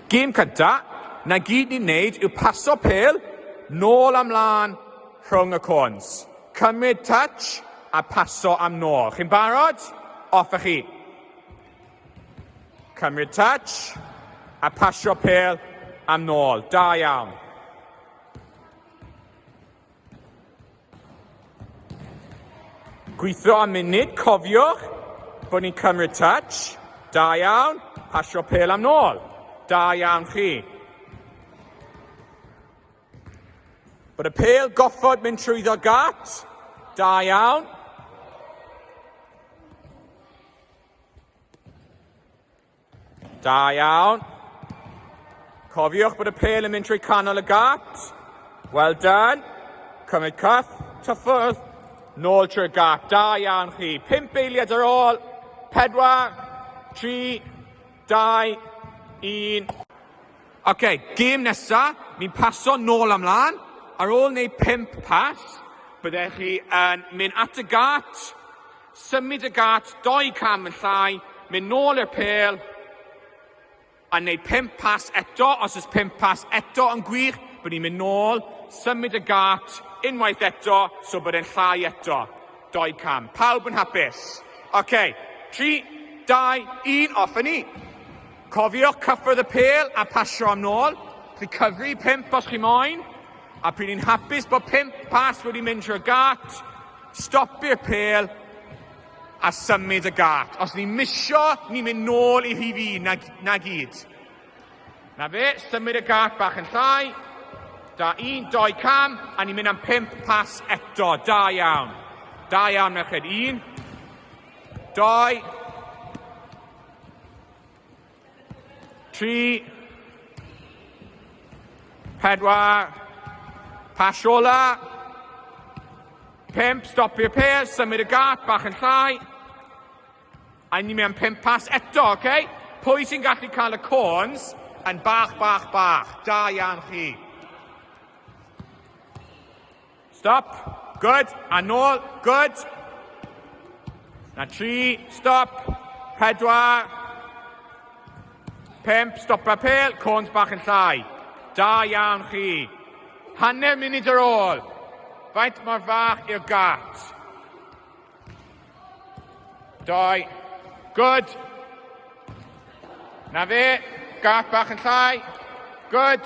Gêm cynta, na gyd ni'n neud yw paso pêl nôl a mlân rhwng y côns. Cymryd touch a paso am nôl. Chi'n barod? Off a chi. Cymryd touch a pasio pêl am nôl. Da iawn. Gweithio am munud, cofiwch bod ni'n cymryd touch. Da iawn, pasio pel am nôl. Da iawn chi. Bod y pel goffod mynd trwyddo gat. Da iawn. Da iawn. Cofiwch bod y pel yn mynd trwy canol y gaps. Well done. Cymryd cyff, tyffwrdd, nôl trwy'r gap. Da iawn chi. Pimp eiliad ar ôl. Pedwar, tri, dau, un. Oce, okay, gêm nesa, ni'n paso nôl amlan. Ar ôl neu pimp pas, byddech chi yn mynd at y gat, Symud y gât dou cam yn llai, mynd nôl i'r pêl a wneud pump pas eto, os oes pump pas eto yn gwych, bod ni'n mynd nôl, symud y gât unwaith eto, so bod e'n llai eto, dou cam. Pawb yn hapus? OK, 3, 2, 1, off a ni! Cofiwch cyffwrdd y pêl a pasio am nôl, chi cyfri pump os chi moyn, A p'un i'n hapus bod pump pas wedi mynd trwy'r gât, stopi'r pêl a symud y gât. Os ni'n misio, ni'n mynd nôl i rhif un, na, na gyd. Na fe, symud y gât bach yn llai. Da, un, doi cam, a ni'n mynd am pump pas eto. Da iawn. Da iawn, merched. Un, doi, Tri. Pedwar. Pasiola. Pimp, stopio pêl, symud y gap, bach yn llai. A ni mewn pimp pas eto, oce? Okay? Pwy sy'n gallu cael y corns yn bach, bach, bach? Da iawn chi. Stop, good, a nôl, good. Na tri, stop, pedwar, pimp, stop a pel, cwns bach yn llai. Da iawn chi. Hanner munud ar ôl. Faint mor fach i'r gat? Doi. Good. Na fe. Gat bach yn llai. Good.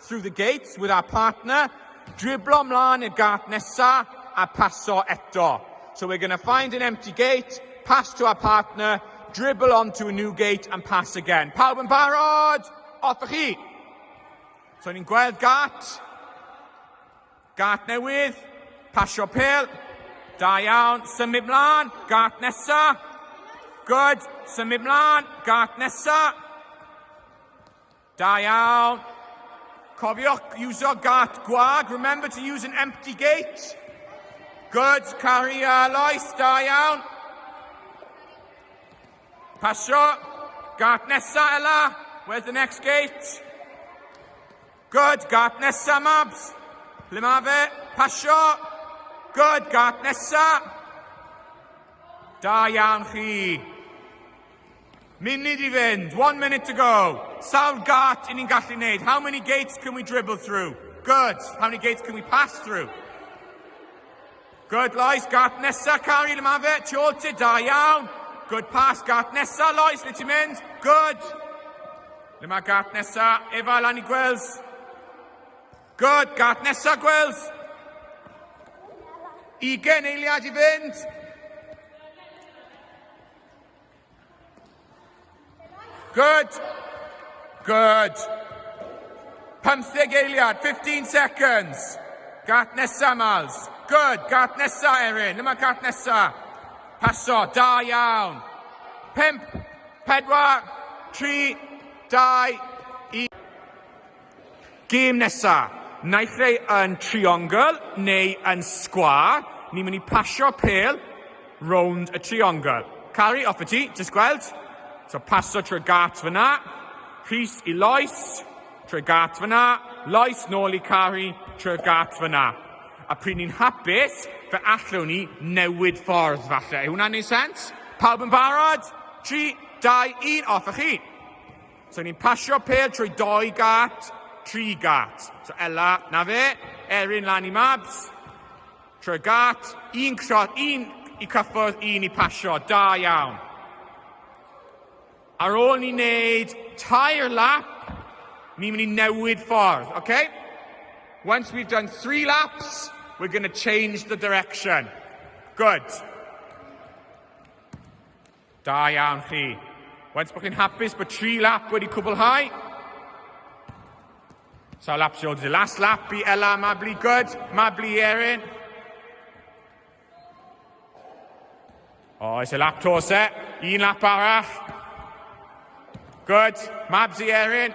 Through the gates with our partner, driblo mlaen i'r gât nesa a paso eto. So we're going to find an empty gate, pass to our partner, dribble on to a new gate and pass again. Pawb yn barod? Off y chi! So ni'n gweld gat, gat newydd, pasio pel, da iawn, symud mlaen, gat nesa, good, symud mlaen, gat nesa, Da iawn! Cofiwch iwsio gât gwag, remember to use an empty gate. Good, Cari a Lois, da iawn. Pasio, gât nesa Ela, where's the next gate? Good, gât nesa Mabs. Ble mae fe? Pasio. Good, gât nesa. Da iawn chi. Munud i fynd, one minute to go. Sawl gart i ni'n gallu neud? How many gates can we dribble through? Good. How many gates can we pass through? Good, Lois. Gart nesa, Cari, le mae fe? Tu ôl ti, da iawn. Good pass. Gart nesa, Lois, le ti'n mynd? Good. Le mae gart nesa? Efa, lan i Gwils. Good. Gart nesa, Gwils. Ugen eiliad i fynd. Good. Good. Pymtheg eiliad, 15 seconds. Gat nesa, Mals. Good. Gat nesa, Erin. Yma gat nesa. Paso. Da iawn. Pimp. Pedwar. Tri. Dau. Gêm nesa, naill ai yn triongl neu yn sgwâr, ni'n mynd i pasio pêl rownd y triongl. Cari, off y ti, jyst gweld. So paso trwy Gart fyna, Rhys i Lois, trwy Gart fyna, Lois nôl i Cari, trwy Gart fyna. A pryd ni'n hapus, fe allwn ni newid ffordd falle. Yw hwnna'n neud sens? Pawb yn barod? 3, 2, 1, off y chi! So ni'n pasio pel trwy doi gat, tri gat. So Ella, na fe, Erin lan i Mabs, trwy gat, un crot, un i cyffwrdd, un i pasio, da iawn. Ar ôl ni wneud tair lap, ni'n mynd i newid ffordd, oce? Okay? Once we've done three laps, we're going to change the direction. Good. Da iawn chi. Faint bod chi'n hapus bod tri lap wedi cwblhau? Sawl lap sy'n oed? Last lap i Ella Mabli Good, Mabli Erin. O, oh, is y lap to se. Un lap arall. Good. Mabs i Erin.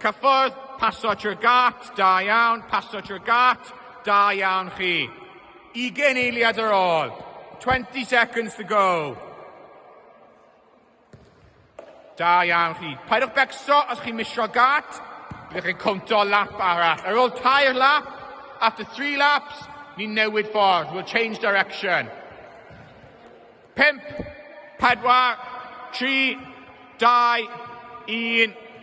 Cyffordd, paso trwy'r gât, da iawn, paso trwy'r gât, da iawn chi. Ugen eiliad ar ôl. 20 seconds to go. Da iawn chi. Paidwch becso os chi'n misio gât. Byddwch chi'n cwmto lap arall. Ar ôl tair lap, after three laps, ni'n newid ffordd. We'll change direction. Pimp, pedwar, tri, dau, un.